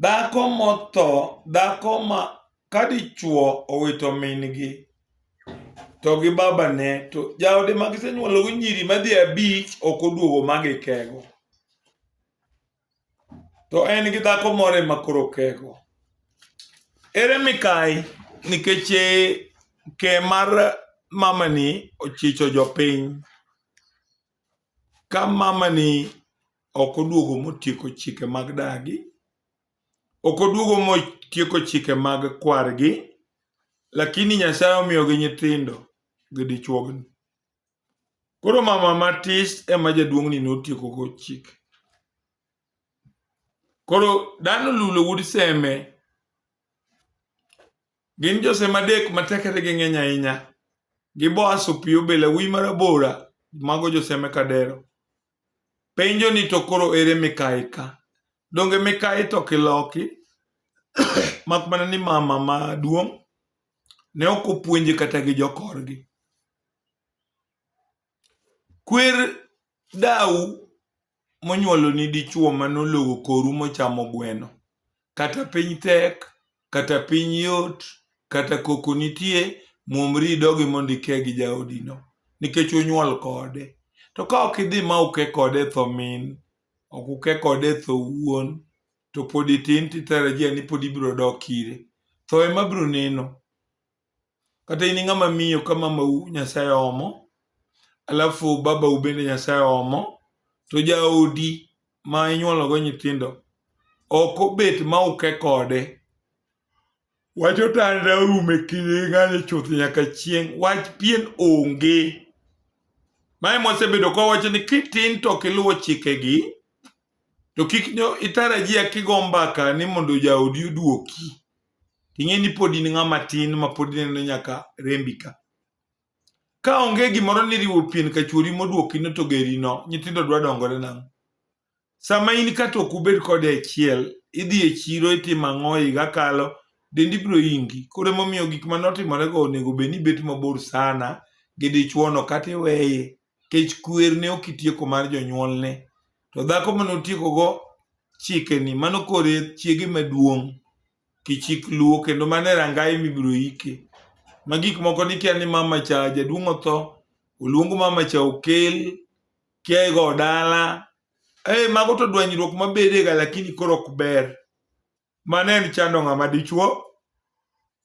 Dhako motho, dhako ma ka dichwo owito min-gi to gi babane to jaode ma gisenyuologo nyiri madhi abich ok oduogo ma gikego. To en gi dhako moro ema koro okego. Ere mikayi nikech eh, ke mar mamani ochicho jopiny. Ka mamani ok oduogo motieko chike mag dagi, ok oduogo motieko chike mag kwargi, lakini Nyasaye omiyogi nyithindo gi dichuogni. Koro mama matis ema jaduong'ni notiekogo chike. Koro dhano lulo wuod seme Gin Josem adek ma tekregi ng'eny ahinya, gi Boaz opiyo be lawi marabora, mago Josem e kadero. Penjo ni to koro ere mikayi ka? Donge mikayi to kiloki? Mak mana ni mama maduong' ne ok opuonje kata gi jokorgi. Kwer dau monyuoloni dichuo manolowo koru mochamo gweno. Kata piny tek, kata piny yot, kata koko nitie, muomri idogi mondo ike gi jaodino nikech unyuol kode. To ka ok idhi ma uke kode e tho min, ok uke kode e tho wuon, to pod itin titarajia ni pod ibiro dok ire. Tho ema biro neno. Kata in ng'ama miyo ka mamau Nyasaye omo, alafu babau bende Nyasaye omo, to jaodi ma inyuologo nyithindo ok obet ma uke kode. Wach otanda orumo e kinde ng'ani chuth nyaka chieng'. Wach pien onge. Mae mwasebedo kwa wacho ni kitin to ok iluwo chikegi, to kik itarajia kigo mbaka ni mondo jaodi oduoki. ting'e ni pod in ng'ama tin ma pod ineno nyaka rembi ka ka onge gimoro ni riwo pien ka chuori modwoki no to geri no nyithindo dwa dongore nang'o sama in ka to ok ubed kode achiel idhi e chiro itimo ang'o higa kalo dendi biro ingi koro emomiyo gik mane otimorego onego bed ni ibet mabor sana gi dichuono kata iweye kech kwer ne ok itieko mar jonyuolne to dhako mane otiekogo chikeni mano kore chiege maduong' kichik luo kendo mano e rangai mibiro ike ma gik moko nikia ni mama cha jaduong' otho oluong mama cha okel kia igo dala e mago to dwanyruok mabedega lakini koro ok ber mano en chando ng'ama dichuo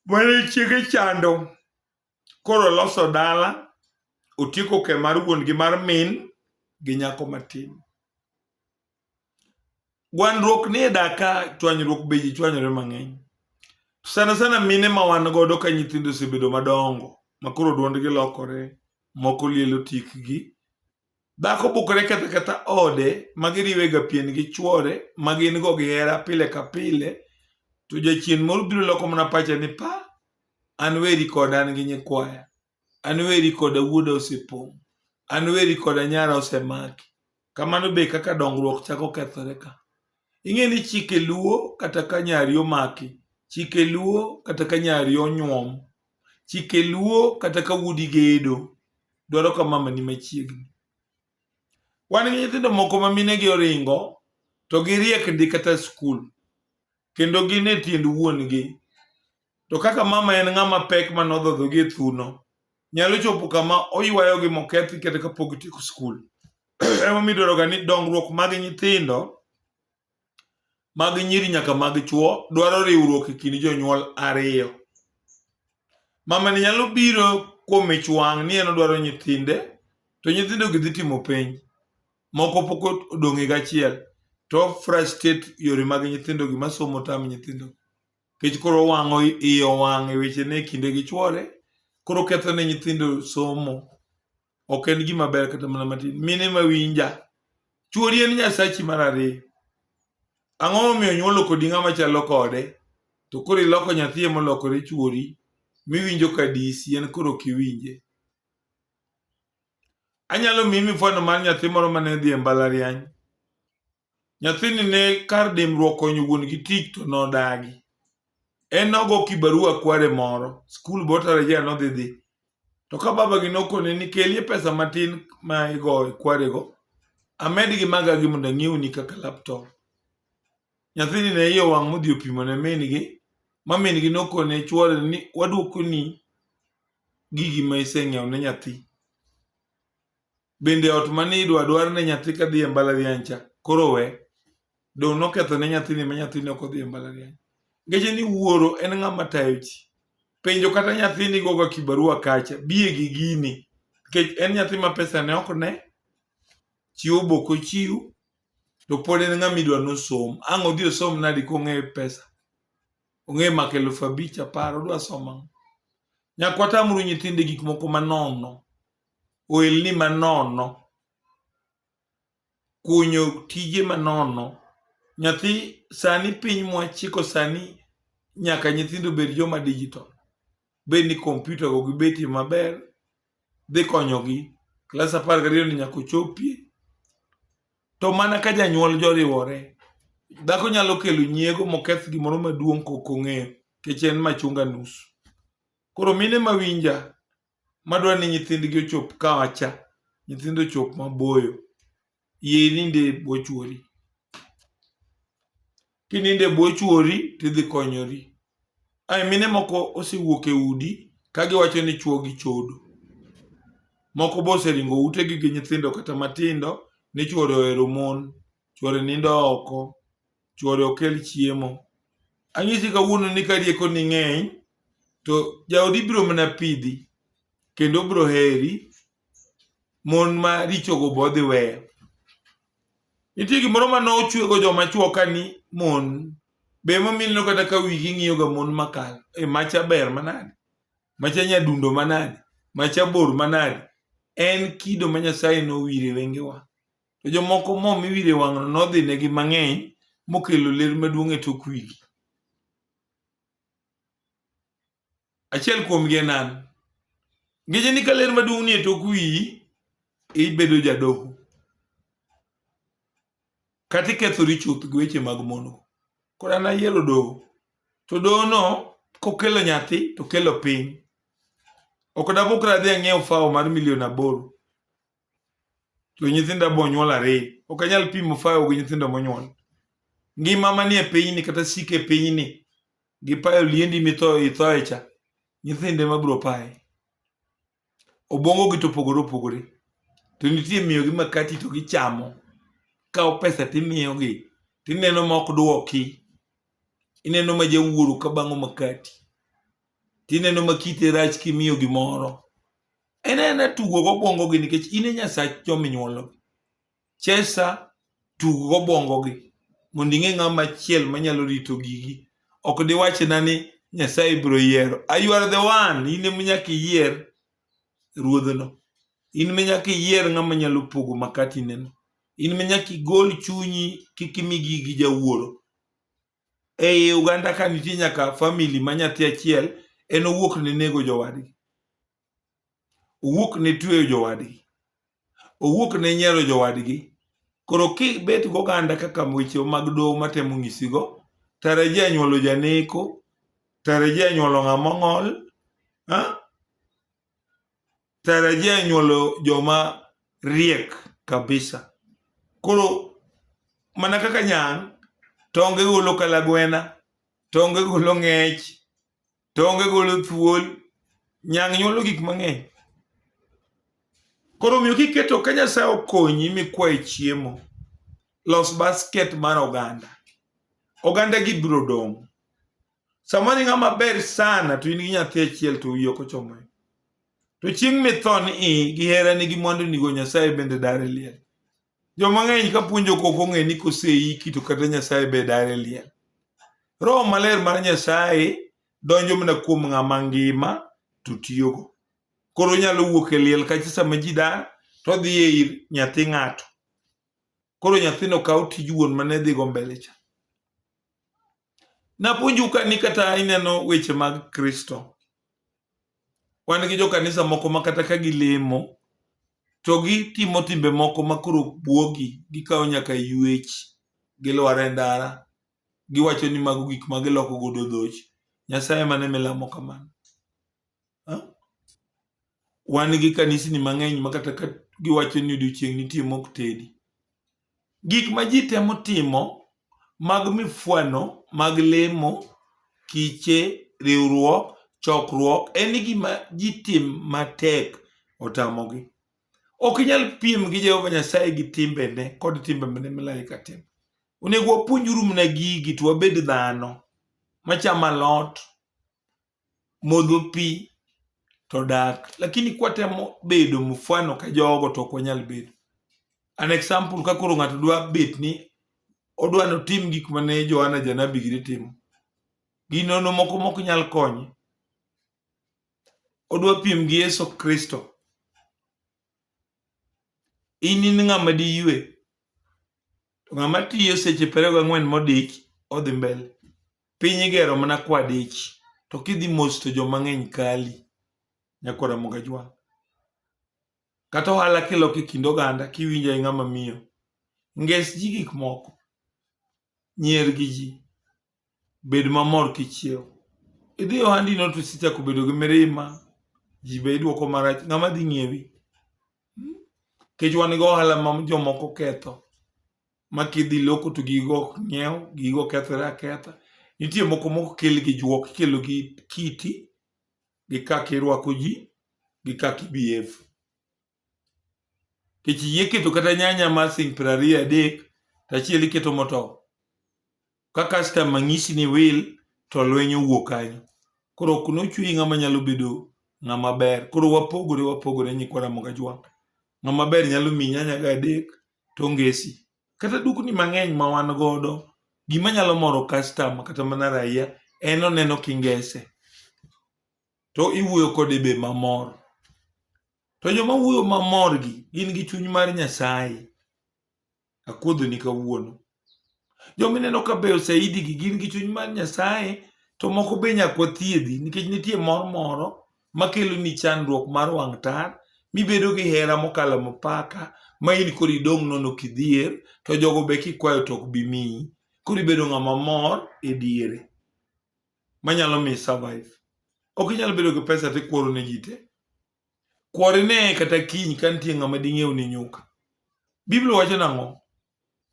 mane chiege chando koro oloso dala, otieko ke mar wuon gi mar min gi nyako matin. Gwandruok ni e daka, chwanyruok be ji chwanyore mang'eny. Sana sana mine ma wan godo ka nyithindo osebedo madongo, ma koro dwondgi lokore, moko lielo tikgi, Dhako bukore ketho ketha ode ma giriwega pien gi chwore ma gin go gihera pile ka pile, to jachien moro biro loko mana pache ni pa, an weri koda an gi nyikwaya, an weri koda wuoda osepong', an weri koda nyara osemaki. Kamano be kaka dongruok chako kethore ka. Ing'e ni chike luo kata ka nyari omaki, chike luo kata ka nyari onyuom, chike luo kata ka wuodi gedo dwaro ka mama ni machiegni wan gi nyithindo moko ma mine gi oringo to giriek ndi kata skul kendo gin e tiend wuon gi to kaka mama en ng'ama pek ma nodhodho gi e thuno nyalo chopo kama oywayo gi mokethi kata kapok tieko skul emomiyo idwaroga ni dongruok mag nyithindo mag nyiri nyaka mag chwo dwaro riwruok e kind jonyuol ariyo. Mamani nyalo biro kuom ich wang' ni en odwaro nyithinde to nyithindo gi dhi timo penj moko pok odong' higa achiel to frustrate yore mag nyithindo gi masomo tam nyithindo nikech koro wang'o iye owang' e wechene e kinde gi chwore koro ketho ne nyithindo somo. ok en gima ber kata mana matin mine ma winja chuori en nyasachi mar ariyo ang'o momiyo nyuolo kodi ng'ama chalo kode to koro iloko nyathi molokore chuori miwinjo ka disi en koro kiwinje anyalo miyi mifano mar nyathi moro mane dhi e mbalariany Nyathini ne kar dimruok konyo wuon gi tich to nodagi. En nogo kibarua kware moro, skul botarajia nodhi dhi. To ka baba gi nokone ni kelie pesa matin ma igo kwarego, amed gi maga gi mondo ang'iewni kaka laptop. Nyathini ne iye owang' modhi opimo ne min gi, ma min gi nokone chwore ni waduokoni gigi ma iseng'iewo ne nyathi. Bende ot ma ni idwa dwar ne nyathi ka dhi e mbalariany cha koro we. Dong' noketho ne nyathini ma nyathini ok odhi e mbalariany. Ngeche ni wuoro en ng'ama tayo ji. Penjo kata nyathini goga kibarua kacha, biye gi gini. Nikech en nyathi ma pesa ne ok ne, chiwo bok ochiw, to pod en ng'ama idwa nosom. Ang' odhi osom nadi kong'e pesa? Ong'e mako eluf abich apar, odwa somo ang'o? Nyakwata amuru nyithinde gik moko manono. ohelni manono, kunyo tije manono. Nyathi sani piny mwachiko sani nyaka nyithindo bed joma digital. Bed ni kompyuta go gi betie maber, dhi konyogi. Klas apar gariyo ni nyaka ochopie. To mana ka janyuol joriwore, dhako nyalo kelo nyiego moketh gimoro maduong' kokong'eyo, kech en machunga nusu. Koro mine mawinja, madwa ni nyithindgi ochop kawacha nyithindo ochop maboyo yie ininde e bwo chuori kininde e bwo chuori tidhi konyori ae mine moko osewuok e udi ka giwacho ni chuo gi chodo moko be oseringo utegi gi nyithindo kata matindo ni chuore ohero mon chwore nindo oko, chwore okel chiemo. Anyisi kawuono ni ka rieko ni ng'eny, to jaodi biro mana pidhi kendo biro heri mon ma richogo be odhi weyo. Nitie gimoro ma nochwego joma chwo ka ni mon be emomiyo kata ka wigi ng'iyoga mon makal e macha ber manade macha nyadundo manade macha bor manade en kido ma Nyasaye nowire wengewa. To jomoko mo miwiro e wang'no nodhinegi mang'eny mokelo ler maduong' e tok wigi. Achiel kuomgi en an. Ngeche ni ka ler maduong' ni e tok wiyi, ibedo jadoho. Kata ikethori chuth gi weche mag mondo. Koro an ayiero doho. To dohono kokelo nyathi to kelo piny. Ok dabukra adhi ang'iew fawo mar milion aboro. to nyithinda bo nyuol ariyo. Ok anyal pimo fayo gi nyithindo monyuol. Ngima manie pinyni kata sike pinyni gi payo liendi mitho ithoe cha nyithinde mabiro paye. Obwongo gi to opogore opogore. To nitie miyogi makati to gichamo. Kawo pesa timiyogi. Tineno ma ok dwoki. Ineno ma jawuoro ka bang'o makati. Tineno ma kite rach kimiyo gimoro. en ena tugo gobwongogi nikech in e nyasach jominyuologi chesa tug gobwongogi mondo ing'e ng'ama chiel manyalo rito gigi ok diwachna ni nyasaye biro yiero ayuar the one in ema nyaka iyier ruodhno in me nyaka iyier ng'ama nyalo pogo makatineno in me nyaka igol chunyi kik imi gigi jawuoro ei uganda ka nitie nyaka famili ma nyathi achiel en owuok ne nego jowadgi owuok ne tweyo jowadgi owuok ne nyiero jowadgi koro kibet goganda kaka weche mag doho matemo ng'isigo tarajia nyuolo janeko tarajia nyuolo ng'ama ong'ol tarajia nyuolo joma riek kabisa koro mana kaka nyang' tonge golo kalagwena tonge golo ng'ech tonge golo thuol nyang' nyuolo gik mang'eny koro omiyo kiketo ka nyasaye okonyi mikwaye chiemo los basket mar oganda oganda gi biro dong' sama ni ng'ama ber sana to in gi nyathi achiel to wiyi ok ochomo e. to chieng' mithon i gi herani gi mwandunigo nyasaye bende dare liel Joma ng'eny ka puonjo kok ong'e ni koseiki to kata Nyasaye be dare liel. Roho maler mar Nyasaye donjo mana kuom ng'ama ngima to tiyogo. Koro onyalo wuok e liel kacha sama ji dar to odhi e ir nyathi ng'ato. Koro nyathino kawo tij wuon mane dhigo mbele cha. Napuonju ka ni kata ineno weche mag Kristo. Wan gi jokanisa moko ma kata ka gilemo to gitimo timbe moko ma koro bwogi gikawo nyaka yuech gilwar e ndara giwacho ni mago gik ma giloko godo dhoch nyasaye mane milamo kamano Wan gi kanisni mang'eny ma kata ka giwacho ni odiochieng' nitie mok tedi. Gik ma ji temo timo mag mifwano, mag lemo, kiche, riwruok, chokruok en gima ji tim matek otamogi. Ok inyal piem gi Jehova Nyasaye gi timbene kod timbe mane malaika timo. Onego wapuonjuru mana gigi to wabed dhano machamo alot modho pi to dak lakini kwatemo bedo mfano ka jogo to ok wanyal bedo an example ka koro ng'ato dwa bet ni odwa notim gik mane Johana janabi giri timo ginono moko mok nyal konye odwa piem gi Yesu Kristo in in ng'ama diyue to ng'ama tiyo seche piero gang'wen modich odhi mbele Piny igero mana kwadich to kidhi mos to joma ng'eny kali nyako Ramogi Ajwang'. Kata ohala kiloko e kind oganda kiwinjo e ng'ama miyo. Nges ji gik moko. Nyier gi ji. Bed mamor kichiew. Idhi ohandi no to isechako bedo gi mirima. Ji be idwoko marach. Ng'ama dhi ng'iewi? Kech wan gi ohala ma jomoko ketho. ma kidhi loko to gigo ok ng'iew, gigo kethore aketha. Nitie moko mok kel gi juok, ikelo gi kiti, gi kaka irwako ji, gi kaka ibehave. Nikech iyie keto kata nyanya mar siling' piero ariyo adek, to achiel iketo motow. Ka customer nyisi ni wil to lweny owuok kanyo. Koro ok nochweyi ng'ama nyalo bedo ng'ama ber. Koro wapogore wapogore nyikwa Ramogi Ajwang'. Ng'ama ber nyalo miyi nyanya ga adek to ongesi. Kata dukni mang'eny ma wan godo, gima nyalo moro customer kata mana raia en oneno kingese. To iwuoyo kode be mamor. To joma wuoyo mamor gi gin gi chuny mar Nyasaye. Akuodhoni kawuono. Joma ineno ka beyo saidi gi gin gi chuny mar Nyasaye to moko be nyaka wathiedhi nikech nitie mor moro makelo ni chandruok mar wang' tar mibedo gi hera mokalo mipaka ma in koro idong' nono kidhier to jogo be kikwayo to ok bi miyi. Koro ibedo ng'ama mor e diere manyalo mi survive. Ok inyal bedo gi pesa tikworo ne ji te. Kwarine kata kiny ka nitie ng'ama ding'iew ni nyuka. Biblia wacho nang'o?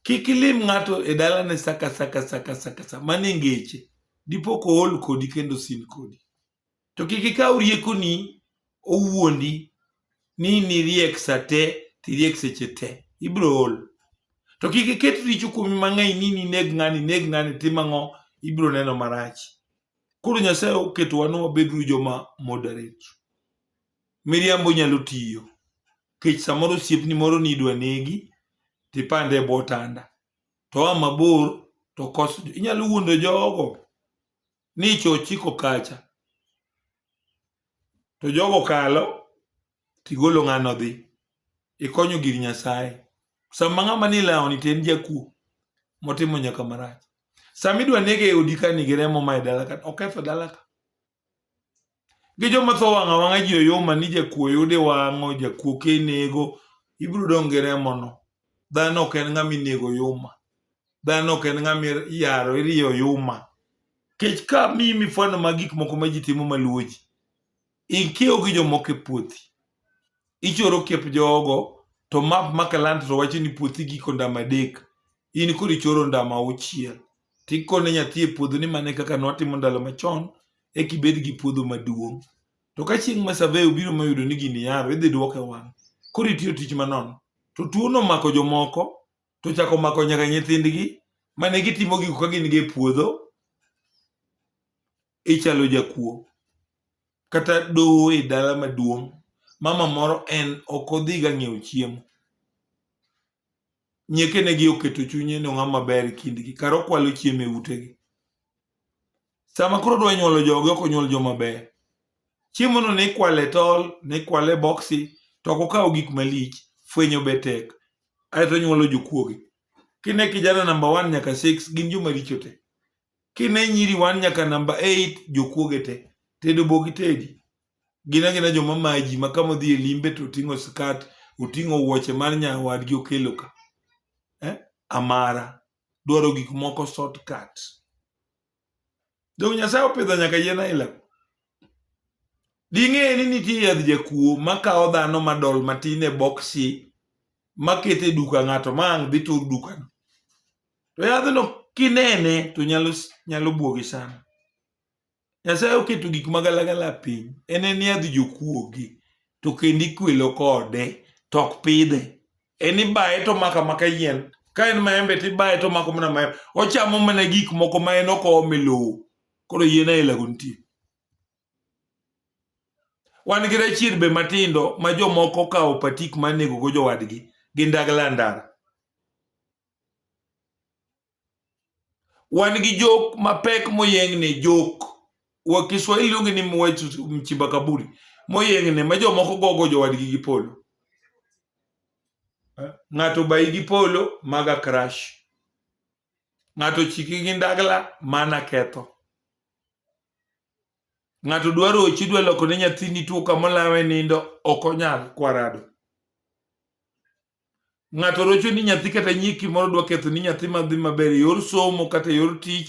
Kik ilim ng'ato e dalane saka saka saka saka sa mane ngeche dipo ko ol kodi kendo sin kodi. To kik ikaw riekoni owuondi ni niriek sa te tiriek seche te. Ibro ol. To kik iket richo kuomi mang'eny ni nineg ng'ani, ineg ng'ani, tim ang'o, ibro neno marach. Koro Nyasaye oketowa ni wabedru joma moderate. Miriambo nyalo tiyo. Kech samoro osiepni moro ni idwa negi, tipande e bwo tanda. To a mabor, to kos, inyalo wuondo jogo ni icho ochiko kacha. To jogo kalo, tigolo ng'ano dhi ikonyo gir nyasaye sama ng'ama ni lawni to en jakuo motimo nyaka marach sama idwa nege e odi ka nigi remo ma e dala ka oketho dala ka gi joma tho wang'a wang'a ji oyoma ni jakuo yude wang'o jakuo kenego ibiro dong' gi remono dhano ok en ng'ama inego yuma dhano ok en ng'ama iyaro iriyo yuma kech ka mi mifwano mag gik moko ma ji timo maluwo ji Ikiewo gi jomoko e puothi. Ichoro kiep jogo to map ma Kalanta to wacho ni puothi giko ndama adek. In koro ichoro ndama auchiel. Tikone nyathi e puodho ni mane kaka nwatimo ndalo machon eka ibed gi puodho maduong'. To ka chieng' ma survey obiro moyudo ni gini yaro idhi duoke wang'. Koro itiyo tich manono. To tuo nomako jomoko to chako mako nyaka nyithindgi mane gitimo gigo ka gin gi e puodho. ichalo jakuo kata doho e dala maduong' mama moro en ok odhiga ng'iewo chiemo nyekenegi oketo chunye ni ong'ama ber e kindgi kar okwalo chiemo e utegi sama koro odwa nyuolo joge ok onyuol joma ber chiemono ne ikwale e tol ne ikwale e boksi to ok okawo gik malich fwenyo be tek aeto onyuolo jokuoge kine kijana namba one nyaka six gin joma richo te kine nyiri wan nyaka namba 8 jokuoge te tedo bogi tedi gina gina joma maji ma kama odhi e limbe to oting'o skat oting'o wuoche mar nyawadgi okelo ka eh? amara dwaro gik moko shortcut donge nyasaye opidho nyaka yien aila ding'e ni nitie yadh jakuo makawo dhano madol matin e boksi makete duka ng'ato ma ang' dhi tur dukano to yadhno kinene to nyalo nyalo buogi sana nyasaye oketo gik magalagala piny en en yadh jokuogi to kendo ikwelo kode to ok pidhe en ibaye to maka maka yien ka en maembe to ibaye to mako mana maembe ochamo mana gik moko ma en okome lowo koro yien ailago nitie wan gi rachier be matindo ma jomoko okawo patik manegogo jowadgi gi ndagla ndara wan gi jok mapek moyeng'ne jok wa Kiswahili luonge ni mwechu mchimba kaburi moyeng'ne ma jomoko gogo jowadgi gi polo eh, ng'ato bayi gi polo maga crash ng'ato chiki gi ndagla mana ketho ng'ato dwaro ochi dwa loko ne nyathini tuo kamolawe nindo ok onyal kwarado ng'ato rocho ni nyathi kata nyiki moro dwa ketho ni nyathi madhi maber yor somo kata yor tich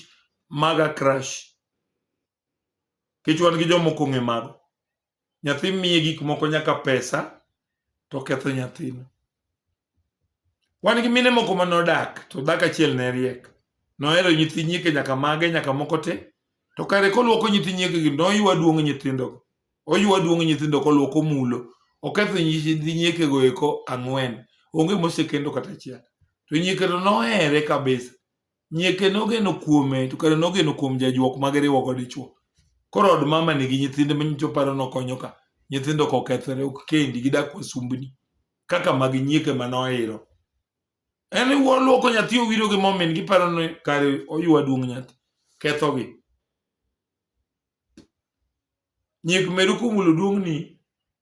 maga crash kech wan gi jomoko ng'e mago nyathi miye gik moko nyaka pesa to ketho nyathino wan gi mine moko ma nodak to dak achiel ne riek nohero nyithi nyike nyaka mage nyaka moko te to kare kolwoko nyithi nyike gi noywa duong' nyithindogo Oywa duong' nyithindo koluoko mulo. Oketho nyithi nyiekego eko ang'wen. Onge mosekendo kata achiel. To nyiekeno nohere kabisa. Nyieke nogeno kuome to kare nogeno kuom jajuok ma giriwo go dichuo. Koro od mama nigi nyithinde ma nyicho paro nokonyo ka. Nyithindo kokethore ok kendi gidak wasumbni. Kaka mag nyieke ma nohero. En iwuo luoko nyathi owiro gi momin giparo ni kare oywa duong' nyathi. Kethogi. Nyek meru kumulo duong'ni,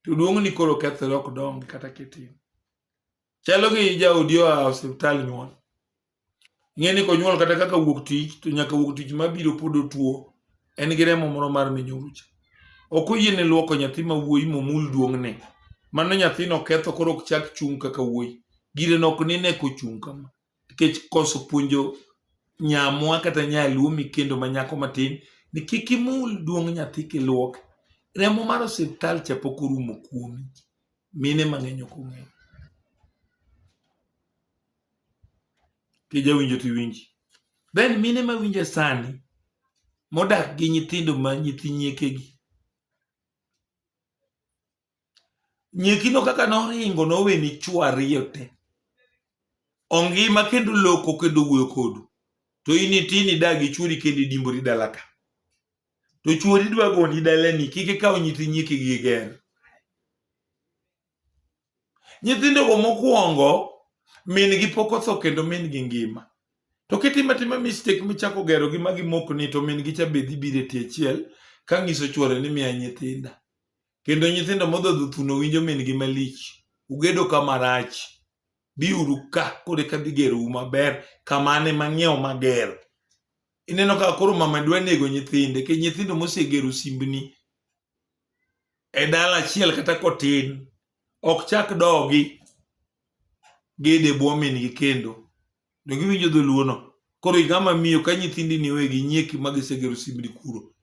to duong'ni koro kethore ok dongi kata kitin. Chalo gi jaodi oa osiptal nyuol. Ing'e ni konyuol kata kaka wuok tich to nyaka wuok tich mabiro pod otuo en gi remo moro mar minyorucha. Ok oyiene luoko nyathi ma wuoyi momul duong'ne. Mano nyathino ketho koro ok chak chung' kaka wuoyi. Gire nok nine kochung' kama. nikech koso puonjo nyamwa kata nyaluo mikendo ma nyako matin ni kik imul duong' nyathi kiluok remo mar osiptal cha pok orumo kuomi mine mang'eny ok ong'eyo kijawinjo tiwinji then mine mawinje sani modak gi nyithindo ma nyithi nyiekegi Nyekino kaka noringo nowe ni chwo ariyo te. Ongima kendo loko kendo wuoyo kodu. To in itini dagi chwori kendo idimbori dalaka. To chwori dwa goni dalani kik ikaw nyithi nyiki gi ger. Nyithindo go mokwongo min gi pok otho kendo min gi ngima. To kitimo atima mistake michako gero gi magi mok ni to min gi cha be dhi bire tie achiel ka ngiso chwore ni miya nyithinda. Kendo nyithindo modhodho thuno winjo min-gi malich. Ugedo ka marach. Biuru ka koro eka dhi gerou maber kamane mang'iewo mager. Ineno ka koro mama dwa nego nyithinde ke nyithindo mosegero simbni e dala achiel kata kotin ok chak dogi gede bwo min-gi kendo. ne giwinjo dholuono koro igama miyo ka nyithindi ni wegi nyieki ma gisegero simbni kuro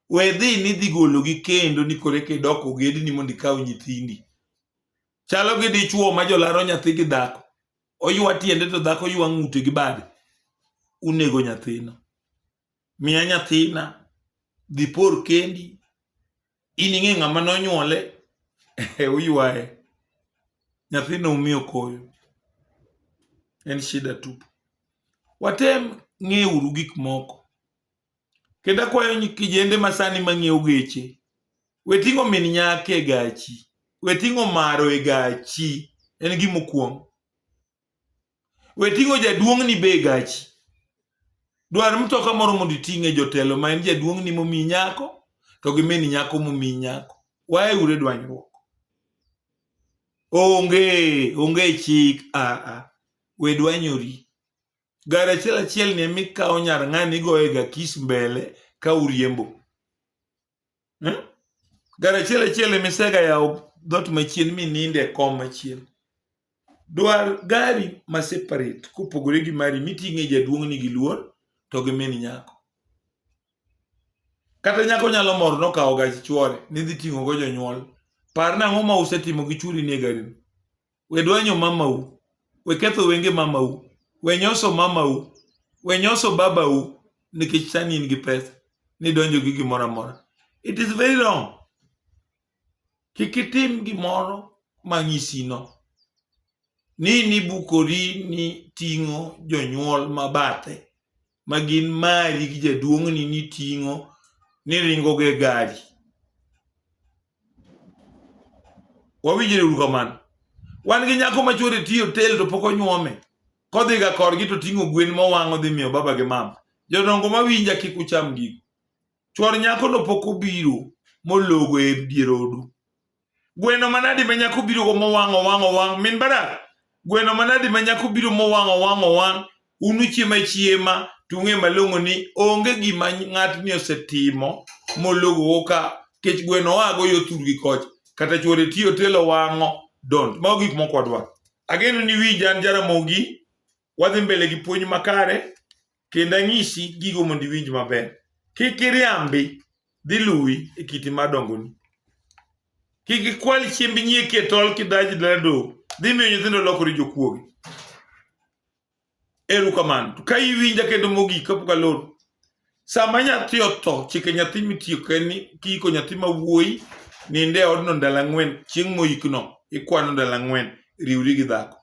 we dhi ni dhi gologi kendo ni kore ke dok ogedni mondo ikaw nyithindi chalo gi dichuo ma jolaro nyathi gi dhako oywa tiende to dhako ywa ng'ute gi bade unego nyathino miya nyathina dhi por kendi in ing'e ng'ama nonyuole e uywaye nyathina umiyo koyo en shida tupu watem ng'euru gik moko kendo akwayo kijende masani mang'iewo geche weting'o min nyaka e gachi weting'o maro e gachi en gimokwongo we ting'o jaduong'ni be gachi dwar mtoka moro mondo iting'e jotelo ma en jaduong'ni momi nyako to gi min nyako momi nyako wae ure dwanyruok onge onge chik aa ah, ah. we dwanyori gari achiel achiel ni emikawo nyar ng'ani igoye ga kis mbele ka uriembo hmm? gari achiel achiel emisega yawo dhoot machien mininde e kom machien dwar gari ma separate kopogore gi mari miting'e jaduong'ni gi luor to gi min nyako kata nyako nyalo mor nokawo gach chwore nidhi ting'o go jonyuol par nang'o ma usetimo gi churi ni e garini we dwanyo mamau we ketho wenge mamau we nyoso mamau we nyoso babau nikech sani in gi pesa nidonjo gi gimoro amora it is very wrong kik itim gimoro manyisino ni nibukori ni ting'o jonyuol mabathe ma gin mari gi jaduong'ni niting'o niringo gi gari. Wawinjre uru kamano. Wan gi nyako ma chwore tiyo tel to pok onyuome. Kodhiga korgi to ting'o gwen mowang' odhi miyo baba gi mama. Jodongo ma winja kik ucham gigo. Chwor nyakono pok obiro mologo e dier odu. gweno manadi ma nyako birogo mowang' owang' owang' min barak gweno manadi ma nyako biro mowang' owang' owang' unuchiema chiema to ung'e malong'o ni onge gima ng'atni osetimo mologogo ka kech gweno oago yo thurgi kocha kata chwore tiyo telo wang'o dont mago gik moko wadwaro ageno ni wi jan jaramogi wadhi mbele gi puonj makare kendo anyisi gigo mondo iwinj maber. Kik iriambi dhi luwi e kiti mar dongoni. Kik ikwal chiemb nyieki e tol kidaji dala do dhi miyo nyithindo lokore jokuoge. Eru kamano. To ka iwinja kendo mogik kapok alor. Sama nyathi otho, chike nyathi mitiyo ka en ni kiiko nyathi ma wuoyi ninde e odno ndalo ang'wen chieng' moikno ikwano ndalo ang'wen riwri gi dhako.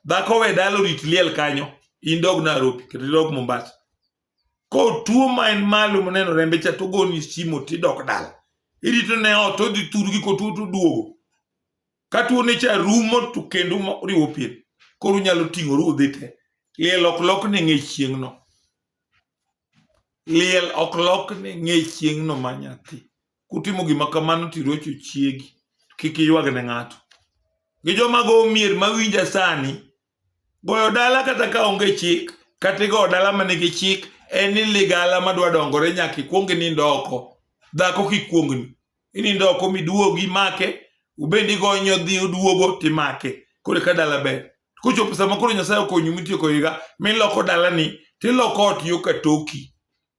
Dhako we dalo rit liel kanyo, in dog Nairobi, kata idog Mombasa. Ko tuo ma en malo moneno rembe cha to goni simo tidok dala. Irito ne ot odhi thurgi ko tuo to duogo. Ka tuo ne cha rumo to kendo riwo pien. Koro unyalo ting'oru udhi te. Liel ok lok ne ng'e chieng'no. Liel ok lokne ng'e chieng'no ma nyathi. Kutimo gima kamano to irocho chiegi, kik iywag ne ng'ato. Gi joma go mier ma winja sani, goyo dala kata ka onge chik, kata igoyo dala ma nigi chik, en ni ligala ma dwa dongore nyaka ikwong inind oko. Dhako kik kwongni. inindo oko miduogi make ubendi gonyo dhi uduogo timake kore ka dala ber kochopo sama koro nyasaye okonyi mitieko higa miloko dalani tiloko ot yo ka toki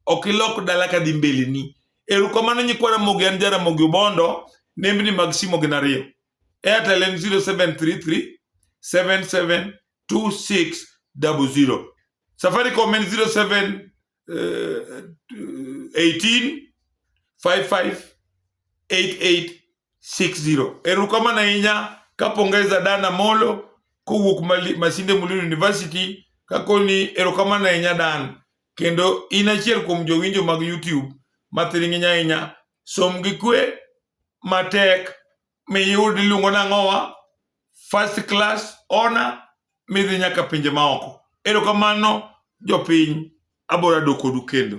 ok ilok dala ka dhi mbeleni erokamano nyikwa ramogi an jaramogi obondo nembni mag simo gin ariyo airtel en 0733 772600 safaricom en 07 18558860. Erukamana ahinya kapongeza Dana Molo kowuok Masinde Muliro University kakoni erokamano ahinya Dan kendo in achiel kuom jowinjo mag YouTube mathiring'iny ahinya som gi kwe matek miyud iluongo nang'owa first class honor midhi nyaka pinje maoko erokamano jopiny abora dokodu kendo